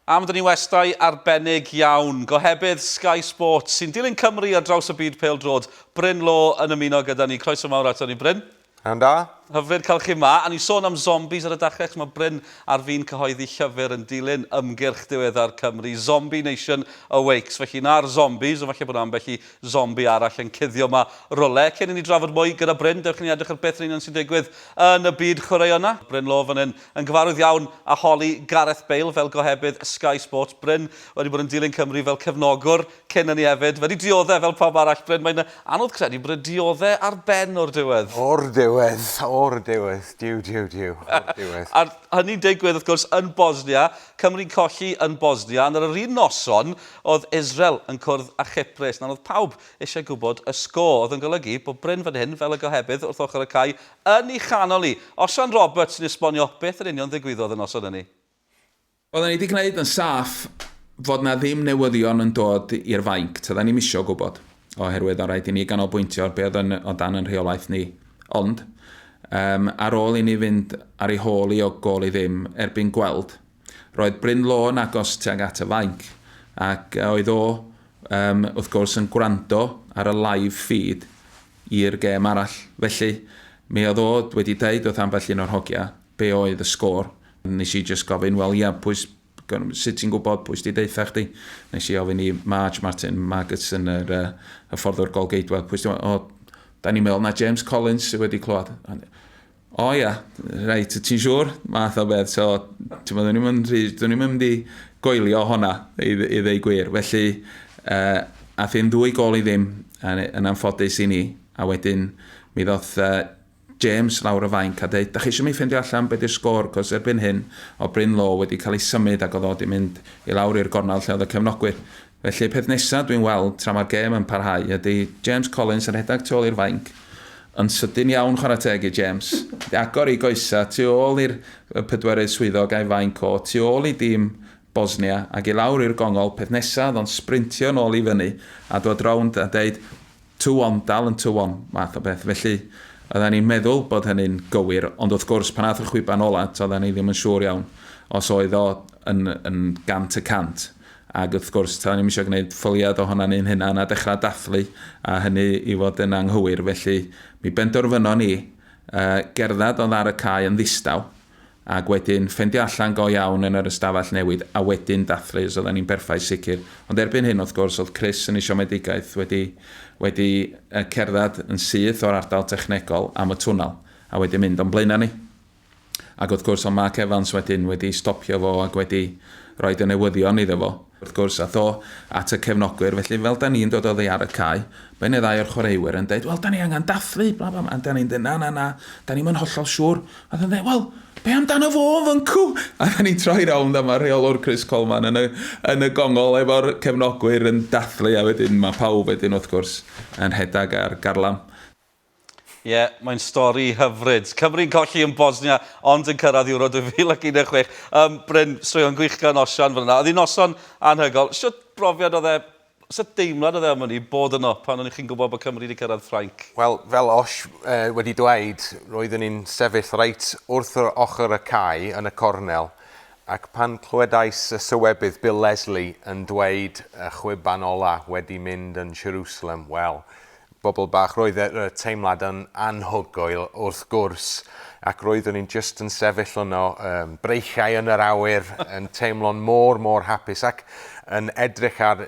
Am dynnu westai arbennig iawn, gohebydd Sky Sports sy'n dilyn Cymru ar draws y byd pêl-droed, Bryn Law yn ymuno gyda ni. Croeso mawr ato ni, Bryn. Iawn da. Hyfryd cael chi ma. A ni sôn am zombies ar y dachrau, chos mae Bryn ar fin cyhoeddi llyfr yn dilyn ymgyrch diweddar Cymru, Zombie Nation Awakes. Felly na'r zombies, ond falle bod yna ambell i Zombi arall yn cuddio ma rwle. Cyn i ni drafod mwy gyda Bryn, dewch i ni edrych ar beth yn union sy'n digwydd yn y byd chwaraeon 'na. Bryn Law fan hyn yn gyfarwydd iawn â holi Gareth Bale fel gohebydd Sky Sports. Bryn wedi bod yn dilyn Cymru fel cefnogwr cyn hynny hefyd. Wedi diodde' fel pawb arall. Bryn, mae'n anodd credu bod e diodde' ar ben o'r diwedd. O'r diwedd! O'r diwedd! Duw, duw, duw! O'r diwedd. A'r hynny'n digwydd wrth gwrs yn Bosnia. Cymru'n colli yn Bosnia ond ar yr un noson oedd Israel yn cwrdd â Chyprus. Nawr oedd pawb eisiau gwybod y sgôr, oedd yn golygu bod Bryn fan hyn fel y gohebydd wrth ochr y cae yn ei chanol hi. Osian Roberts sy'n esbonio beth yn union ddigwyddodd y noson hynny. Oeddan ni 'di gwneud yn saff fod 'na ddim newyddion yn dod i'r fainc, toeddan ni'm isio gwybod. oherwydd o rhaid i ni ganolbwyntio ar be oedd yn, o dan yn rheolaeth ni. Ond, um, ar ôl i ni fynd ar ei hôl i o gol i ddim erbyn gweld, roedd Bryn Lôn agos tuag at y fainc, ac oedd o, um, wrth gwrs, yn gwrando ar y live feed i'r gêm arall. Felly, mi oedd o wedi dweud wrth ambell un o'r hogia be oedd y sgôr. Nes i just gofyn, wel ia, pwy, Sut ti'n gwybod pwy sydd wedi deutha chdi? Nes i ofyn i Marge Martin Magidson, yr uh, hyfforddwr gol geidwad, pwy sydd wedi... O, da ni'n meddwl na James Collins sydd wedi clywed. O ia, reit, ti'n siŵr? Math o beth. So, ti'n meddwl, dwi'n ni'n mynd i goelio honna, i, i ddeu gwir. Felly, uh, a thyn ddwy gol i ddim, yn anffodus i ni. A wedyn, mi ddoth uh, James, lawr y fainc, a deud, 'Dach chi isio mi ffeindio allan be 'di'r sgôr, 'cos erbyn hyn, o Bryn Law wedi cael ei symud ac oedd o 'di mynd i lawr i'r gornel lle oedd y cefnogwyr. Felly, peth nesa dwi'n weld, tra mae'r gêm yn parhau, ydi James Collins yn rhedag tu ôl i'r fainc, yn sydyn iawn chwarae teg i James, wedi agor ei goesa tu ôl i'r pedwerydd swyddog a'i fainc o tu ôl i dîm Bosnia ac i lawr i'r gongol, peth nesa oedd o'n sbrintio nôl i fyny a dod rownd a deud, Tywon, dal yn tywon, math o beth. Felly, oedden ni'n meddwl bod hynny'n gywir, ond wrth gwrs, pan ath y chwiban ola, toedden ni ddim yn siŵr iawn os oedd o yn, yn gant y cant. Ac wrth gwrs, toedden ni'n eisiau gwneud ffoliad ohono ni'n hunan a dechrau dathlu a hynny i fod yn anghywir. Felly, mi bendorfynon ni uh, gerdded oedd ar y cae yn ddistaw, ac wedyn ffendio allan go iawn yn yr ystafell newid a wedyn dathlu os oedden ni'n berffaith sicr ond erbyn hyn wrth gwrs oedd Chris yn ei siomedigaeth wedi wedi yy cerdded yn syth o'r ardal technegol am y twnnel a wedyn mynd o'n blaenau ni ac wrth gwrs oedd Mark Evans wedyn wedi stopio fo ac wedi roed y newyddion iddo fo. Wrth gwrs, aeth o at y cefnogwyr, felly fel 'da ni'n dod oddi ar y cae, mae un neu ddau o'r chwaraewyr yn deud, 'Wel, 'da ni angen dathlu, bla bla bla, a 'da ni'n deud, 'Na, na, na, 'da ni'm yn hollol siŵr. A oedd yn deud, 'Wel, be amdano fo yn fyncw? A 'da ni'n troi rownd a mae rheolwr Chris Coleman yn y, yn y gongol efo'r cefnogwyr yn dathlu, a wedyn mae pawb wedyn, wrth gwrs, yn rhedeg ar garlam. Ie, mae'n stori hyfryd. Cymru'n colli yn Bosnia, ond yn cyrraedd Euro 2016. Um, Bryn, straeon gwych gan Osian fan yna. Oedd hi'n noson anhygol. Sut brofiad oedd e, sut deimlad oedd e am hynny, bod yno pan o'n chi'n gwybod bod Cymru wedi cyrraedd Ffrainc? Wel, fel Osh uh, wedi dweud, roeddwn i'n sefyll reit wrth yr ochr y cae yn y cornel, ac pan clywedais y sywebydd Bill Leslie yn dweud y chwiban ola wedi mynd yn Jerusalem, wel, Bobl bach, roedd y teimlad yn anhygoel wrth gwrs, ac roeddwn i'n jyst yn sefyll yno, breichiau yn yr awyr, yn teimlo'n mor, mor hapus ac yn edrych ar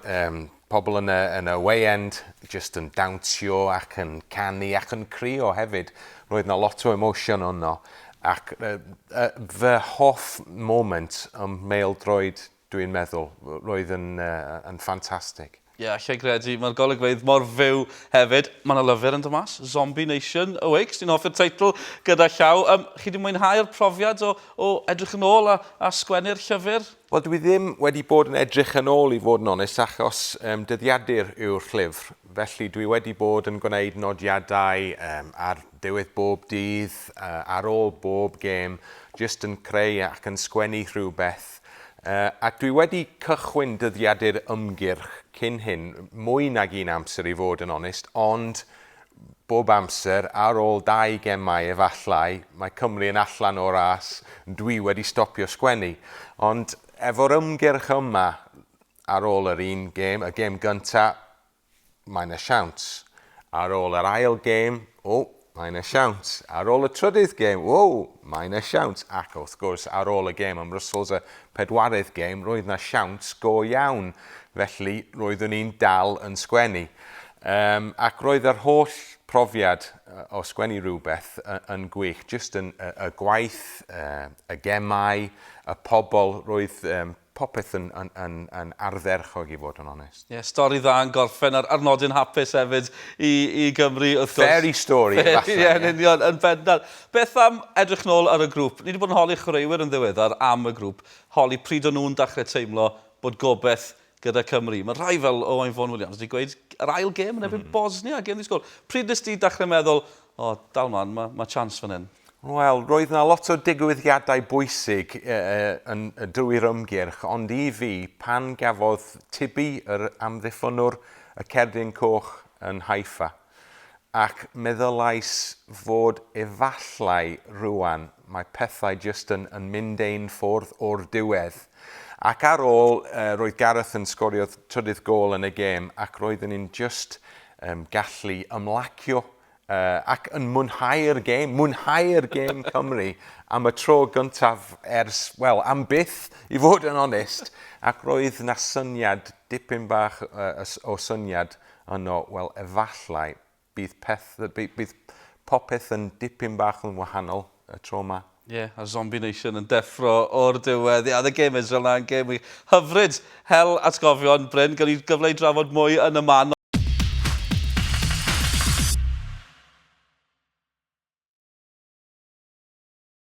pobl yn y, yn y weiend, jyst yn dawnsio ac yn canu ac yn crio hefyd. Roedd yna lot o emosiwn yno, ac fy hoff moment ym mhêl-droed Dwi'n meddwl, roedd yn, yn ffantastig. Ie, yeah, lle gredu, mae'r golygfeydd mor fyw hefyd. Mae yna lyfr yn dod mas, Zombie Nation, Awake, sy'n hoffi'r teitl gyda llaw. Um, chi wedi mwynhau'r profiad o, o edrych yn ôl a, a sgwennu'r llyfr? Wel, dwi ddim wedi bod yn edrych yn ôl i fod yn onest, achos um, dyddiadur yw'r llyfr. Felly dwi wedi bod yn gwneud nodiadau um, ar ddiwedd bob dydd, uh, ar ôl bob gêm, jyst yn creu ac yn sgwennu rhywbeth Ac dwi wedi cychwyn dyddiadu'r ymgyrch cyn hyn, mwy nag un amser i fod yn onest, ond bob amser, ar ôl dau gemau efallai, mae Cymru yn allan o'r ras, dwi wedi stopio sgwennu. Ond efo'r ymgyrch yma, ar ôl yr un gem, y gem gynta, Mae 'na siawns. Ar ôl yr ail gêm, o, mae 'na siawns. Ar ôl y trydydd gêm, o, mae 'na siawns. Ac, wrth gwrs, ar ôl y gêm ym Mrwsels, y pedwaredd gêm, roedd 'na siawns go iawn. Felly, roeddwn i'n dal yn sgwennu. Um, ac roedd yr holl profiad o sgwennu rhywbeth yn gwych. Just yn, y, y gwaith, y, y gemau, y pobl, roedd um, Popeth yn yn yn yn ardderchog i fod yn onest. Ie, stori dda yn gorffen ar ar nodyn hapus hefyd i i Gymru wrth gwrs. Fairy story efallai. Ie, yn union, yn bendant. Beth am edrych nôl ar y grŵp? Ni 'di bod yn holi chwaraewyr yn ddiweddar am y grŵp, holi pryd o'n nhw'n dachre teimlo bod gobeth gyda Cymru. Ma' rhai fel Owain Fôn Williams 'di gweud yr ail gêm yn erbyn Bosnia, gêm ddi-sgôr. Pryd nes di dachre meddwl, O, dal mlan, ma' ma' chance fan hyn? Wel, roedd yna lot o digwyddiadau bwysig yn drwy'r ymgyrch, ond i fi, pan gafodd Tibi yr amddiffynnwr y cerdyn coch yn Haifa, ac meddylais fod efallai rŵan mae pethau jyst yn yn mynd ein ffordd o'r diwedd. Ac ar ôl, roedd Gareth yn sgorio trydydd gôl yn y gêm ac roeddwn i'n jyst gallu ymlacio Uh, ac yn mwynhau'r gêm, mwynhau'r gêm Cymru am y tro gyntaf ers, wel, am byth, i fod yn onest, ac roedd na syniad, dipyn bach uh, o syniad yno, wel, efallai, bydd, peth, bydd, bydd popeth yn dipyn bach yn wahanol y tro yma. Ie, a Zombie Nation yn deffro o'r diwedd. Ie, oedd y gêm Israel 'na yn gêm wych. Hyfryd! Hel atgofion, Bryn. Gawn ni gyfle i drafod mwy yn y man.